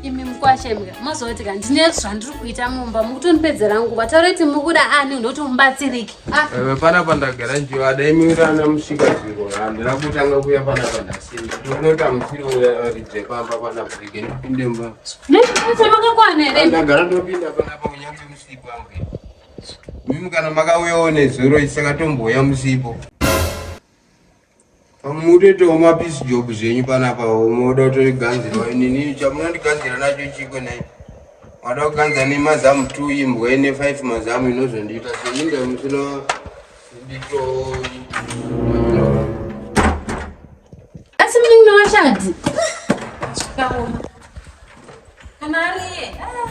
imi mukwashemga mozoti ka ndine zvandiri kuita mumba mukutondipedzera nguva taureti mukuda ani unoti mubatsiriki ah. eh, pana pandagara njiva daimirana musvika zviro handina kutanga kuya pana pandasinda ndonota musiro uyaridze eh, pamba pana brike ndipinde mba nemakakwana here ndagara ndopinda panapa kunyange musipo angu mimi kana makauyawo nezuro isakatomboya musipo Pamwe mutoitawo mapeace job zvenyu panapa moda kutoganzirwa inini chamunondiganzira nacho chikwe nai mada kuganza nemazamu t imbwa ine five mazamu inozondiita soinda musina ndito asi munin'ina washadzi kana ariye ah.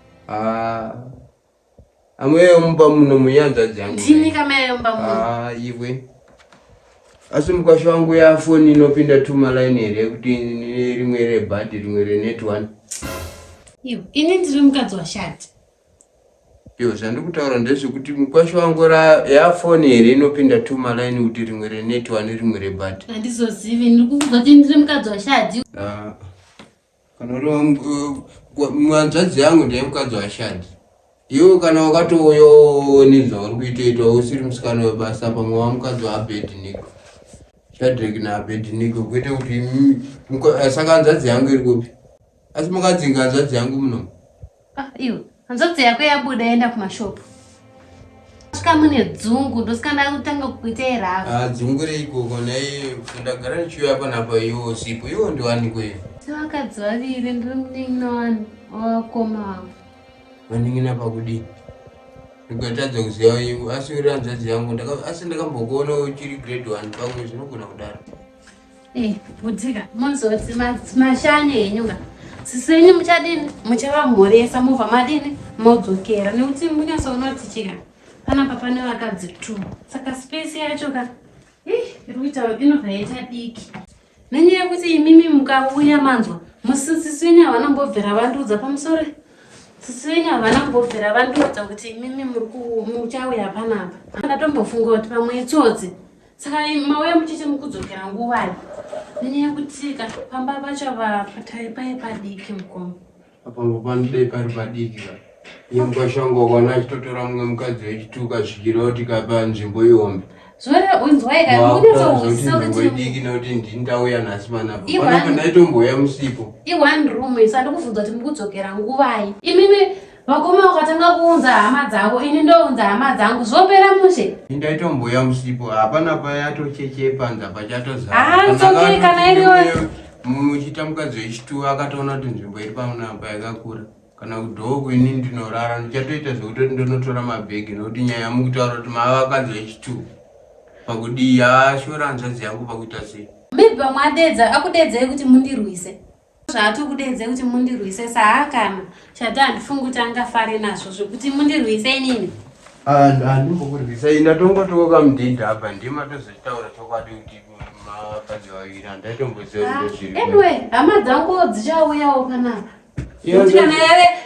Ah, amwe yomba muno muyanza jangu. Ndini kama yomba muno. Ah, iwe. Asi mukasho wangu ya phone inopinda tuma line here kuti rimwe re bad rimwe re net one. Iwe, ini ndiri mukadzi wa shati. Yo, zvandi kutaura ndezve kuti mukasho wangu ra ya phone here inopinda tuma line kuti rimwe re net one rimwe re bad. Andizozivi, ndiri kukuza kuti ndiri mukadzi wa shati. Ah. mwanzvadzi yangu ndaimukadzi washadi iwe kana wakatouyawo nezvauri kuitoita usiri musikana webasa pamwe wamukadzi waabednik shadrik naabednik kuita kuti saka nzvadzi yangu iri kupi asi makadzinga nzvadzi yangu munomu Ah, iwe hanzvadzi yako yabuda yaenda kumashopu svika mune dzungu ndosikana kutanga kukuitei ravo ah, dzungu reikoko nai ndagara ndichiuya apa napa iwo sipo iwo ndiwanikoyo sevakadzi vaviri ndiri munin'ina wani wavakoma wavo vanin'ina pakudii ndikatadza kuziva iwe asi uri hanzvadzi yangu asi ndakambokuona uchiri grade one pamwe zvinogona kudaro Eh, butika mozoti mashane henyu ka sisi venyu muchadini muchavamhoresa mobva madini modzokera nekuti munyasa unoti chika panapa pane vakadzi two saka space yacho ka iri kuita inobva yaita diki nenyaya yekuti imimi mukauya manzwa musisisi venyu havana kumbobvira vandiudza pamusoro sisi venyu havana kumbobvira vandiudza kuti imimi muchauya panapa ndatombofunga kuti pamwe itsotsi saka mauya muchete mukudzokera nguvai nenyaya yekutika pamba pachava patai paye padiki mukoma apambo panodai pari padiki ka iye mukasha wangu wakaona achitotora mumwe mukadzi wechituka zvikira kuti kapa nzvimbo ihombe zvoreunzwaikaidiki nekuti ndindauya nhasi manapo ndaitomboya musipo i one room isandikuvhunza kuti mukudzokera nguvai imimi Vakoma vakatanga kuunza hama dzavo, ini ndounza hama dzangu, zvopera mushe. Ndaitombouya musipo, hapana payatocheche panza pachatozara. Ah, it's okay, kana iriwo. Muchita mukadzi wechituwo akatoona kuti nzvimbo iri pano apa yakakura kana kudhoko ini ndinorara ndichatoita zvekutoti ndonotora mabhegi nokuti nyaya yamukutaura kuti mava vakadzi vechituwo pakudii ashora hanzvadzi yangu pakuita sei maybe vamwe adeedza akudeedzai kuti mundirwise zvaatokudedzei kuti mundirwise saakana chati handifungi kuti angafare nazvo zvekuti mundirwise inini handimbokurwisa ini atongotiwo kamudhindi apa ndima tozotaura chokwadi kuti mavakadzi vaviri handaitomboziva kuti ah, zviri hama dzangu dzichauyawo panapa kuti kana yave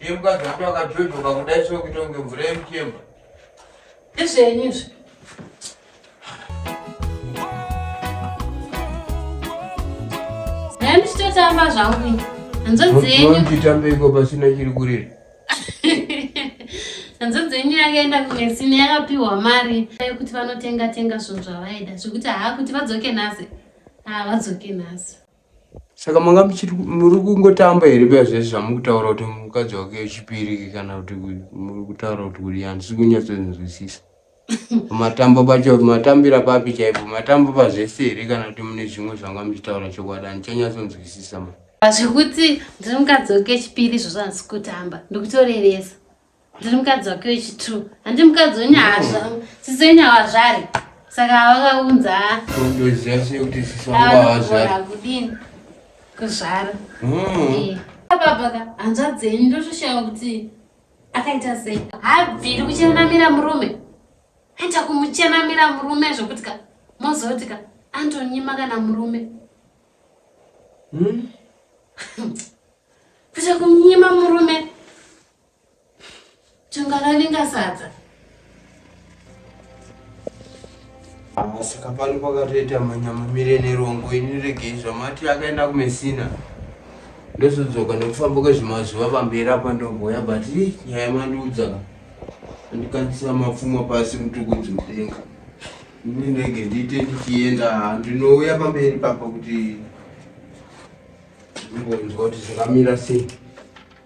Iye mukadzi wako akajojoka kudai so kuita kunge mvura yemuchemba. Ndizvenyu izvi. Nhani chitotamba zvangu ini. Hanzodzi yenyu. Ndinochitambe iko pasina chiri kurira. hanzodzi yenyu yakaenda kunesini yakapiwa mari yekuti vanotenga tenga zvinhu zvavaida zvekuti haa kuti vadzoke nhasi haa vadzoke nhasi saka manga muchiti muri kungotamba here paya zvese zvamukutaura kuti mukadzi wake wechipiri kana kuti muri kutaura kuti kuri handisi kunyatsonzwisisa matamba pacho matambira papi chaipo matamba pazvese here kana kuti mune zvimwe zvanga muchitaura chokwadi handichanyasonzwisisa ma zvekuti ndiri mukadzi wake wechipiri izvozvo handisi kutamba ndikutorevesa ndiri mukadzi wake wechitrue handi mukadzi wenyahazva sisi wenyahazvari saka vakaunza kudini kuzvara hmm. babaka hanzvadzi yenyu ndotoshaya kuti akaita sei habviri kuchenamira murume aita kumuchenamira murume zvokuti ka mozoti ka antonyima kana murume hmm? kuita kunyima murume Changaraninga sadza. Ah, saka pano pakatoita manyama mire nerongo ini regei zvamati akaenda kumesina ndozodzoka nekufamba kwezvemazuva pamberi apa ndogoya but nyaya mandiudza andikanisira mapfuma pasi mutukudzi mudenga ini ndege ndiite ndichienda ndinouya pamberi papa kuti ndimbonzwa kuti zvakamira sei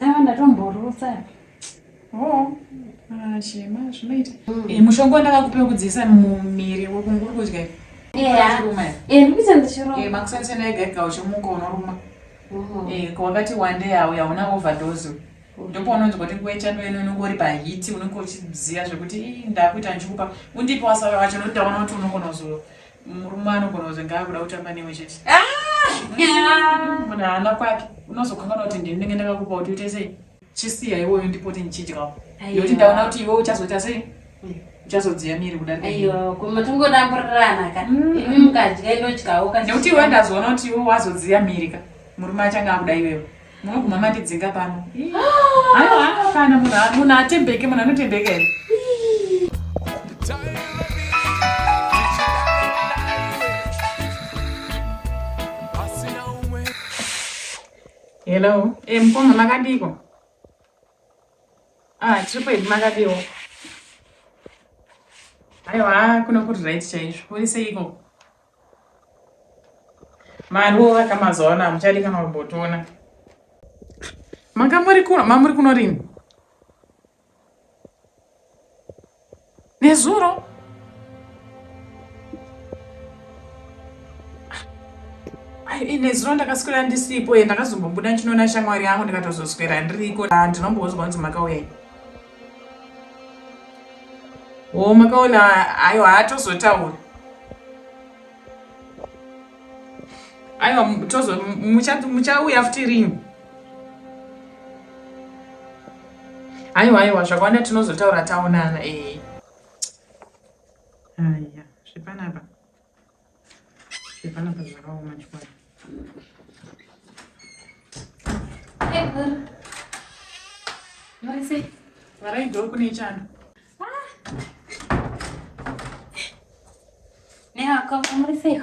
Aiwa ndatomborutsa. Oh, ah, shema zvinoita. Mm. Eh, mushonga wandakakupa wekudziisa mumiri wekunguri kudya. Yeah. Eh, ndikuita ndichiruma. Eh, makusana sena yega yega uchimuka unoruma. Mm. Eh, kwakati one day auya una overdose. ndipo unonzwa kuti nguva yechando ino unenge uri pahiti unenge uchiziva zvekuti ndakuita ndichikupa undipi wasara wacho nokuti ndaona kuti unogona kuzo Murume anogona kuti ngaakuda kutamba newe chete. Ah! Munhu haana kwake. Unozokanganwa kuti ndini ndenge ndakakupa kuti uite sei? Chisiya iwoyo ndipote ndichidyawo. Nekuti ndaona kuti iwe uchazoita sei? uchazodziya miri kudarika aiwa koma tingodamburirana ka mm. imi mukadya ndodyawo ka nekuti iwe ndazoona kuti iwe wazodziya miri ka murume achanga akuda iwewe Munoguma matidzinga pano. Haiwa kana munhu atembeke munhu anotendeka here? Hello. Eh, mkoma makadiko. Ah, tiri kwedu makadiwo. Aiwa, kuno kuri right chaizvo. Uri seiko? mari wovaka mazuva ano hamuchadi kana kumbotiona manga muri kuno mamuri kuno rini nezuro nezuro ndakaswera ndisipo ye ndakazombobuda ndinoona shamwari yangu ndikatozoswera ndiriko ndinombozwa kunzi makauya Oh, makaona ayo haatozotaura aiwa tozo muchauya futi rini aiwa aiwa zvakawanda tinozotaura taonana ee eh. aya zvepanapa Panapa zvakaoma chikwadi. Marise. Varaidho kune chando. Nehako, Marise.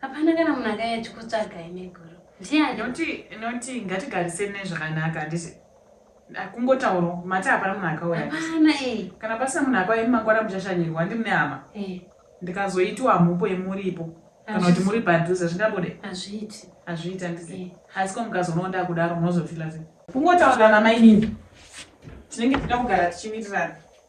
Hapana kana munhu akaiya achikutsvagai meguru. Ndiani? Noti noti ngatigariseni nezvakanaka handiti? Kungotaurwa mati hapana munhu akauya. Hapana eh. Kana pasina munhu akauya imi mangwana muchashanyirwa handi mune hama. Eh. Ndikazoitiwa mhopo yemuripo kana kuti muri padhuze zvingabude? Hazviiti. Hazviiti handiti? Eh. Asi ko mukazonowo ndakudaro munozofila sei? Kungotaurana mainini. Tinenge tinoda kugara tichimirirana.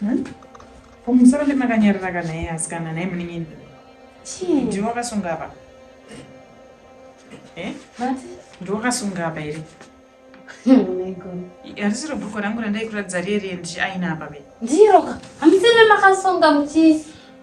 Hmm? Ko musoro ndemakanyarara kana iye asikana naye munin'ini. Chii? Ndiwe wakasunga apa. Eh? Mati? Ndiwe wakasunga apa here? harisiro bhuku rangu randaikuratidza riye riye ndichiaina apa be ndiro hamusiri makasunga muchii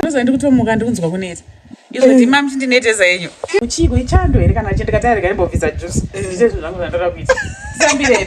ndoza ndikutomuka ndikunzwa kuneta izvo eh. ndima muti ndineteza yenyu uchiko ichando here kana chindikati arega imbobvisa juice eh. ndiite zvinhu zvangu zvandoda kuita zambirei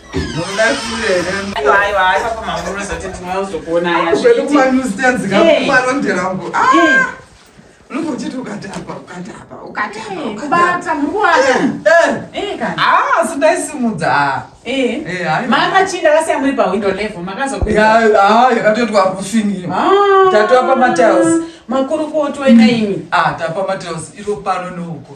makachinda vasiya muri pawindo level makazokuyakatoitwa rufini tatova pamatiles makurukotwa ina imi ah, tapa matiles iro pano neuko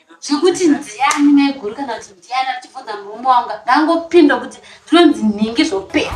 zvekuti ndiani maiguru kana kuti ndiani achibvunza murume wangu ndangopinda kuti ndinonzi nhingi zvopera